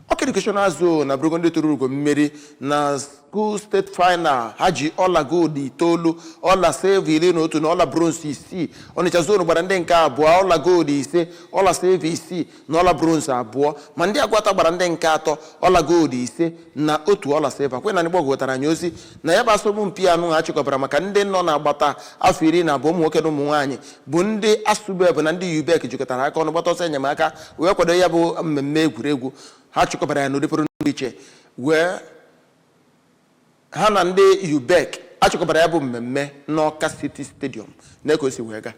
Ọka Educational Zone abụrụgo ndị tụrụ ugo mmeri na school state final ha ji ọla gold itoolu ọla silva iri na otu na ọla bronze isii Ọnịcha zone gbara ndị nke abụọ ọla gold ise ọla silva isii na ọla bronze abụọ ma ndị Aguata gbara ndị nke atọ ọla gold ise na otu ọla silva Queen Anịgbọgụ wetara anyị ozi na ya bụ asọmpi anụ ha chịkọbara maka ndị nọ n'agbata afọ iri na abụọ ụmụ nwoke na ụmụ nwaanyị bụ ndị ASUBEB na ndị UBEC jikọtara aka ọnụ gbata ọsọ enyemaka wee kwado ya bụ mmemme egwuregwu ha chịkọbara ya n'ụdị pụrụ iche wee ha na ndị UBEC a chịkọbara ya bụ mmemme n'Ọka City Stadium na ka o si wee gaa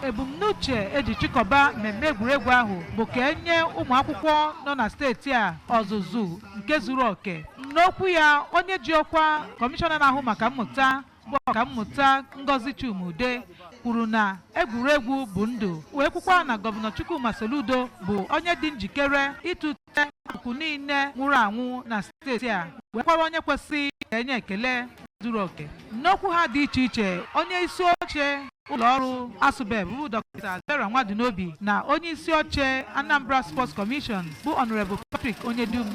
ebumnuche eji chịkọba mmemme egwuregwu ahụ bụ ka enye ụmụ akwụkwọ nọ na steeti a ọzụzụ nke zuru oke n'okwu ya onye ji ọkwa kọmishọna na-ahụ maka mmụta bụ ọkammụta Ngozi Chuma-Udeh kwuru na egwuregwu bụ ndụ wee kwukwa na gọvanọ Chukwuma Soludo bụ onye dị njikere ịtụte akụkụ niile nwụrụ anwụ na steeti a wee kwara onye kwesịrị ka enye ekele zuru oke n'okwu ha dị iche iche onye isi oche ụlọ ọrụ asụbeb bụ dọkịta vera nwadinobi na onye isi oche anambra sports commission bụ honourable patrick onyedum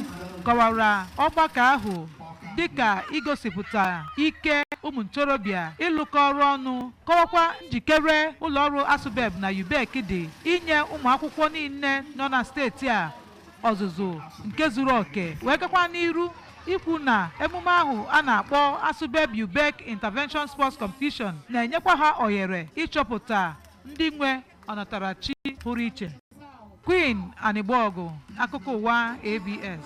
kọwara ọgbakọ ahụ dịka igosipụta ike ụmụ ntorobịa ịlụkọ ọrụ ọnụ kọwakwa njikere ụlọọrụ asụbeb na ubek dị inye ụmụ akwụkwọ niile nọ na steeti a ọzụzụ nke zuru oke wee gakwa n'iru ikwu na emume ahụ a na-akpọ asụbeb ubek intervention sports competition na-enyekwa ha ohere ịchọpụta ndị nwe ọnatarachi pụrụ iche queen anịgbọgụ akụkọ ụwa abs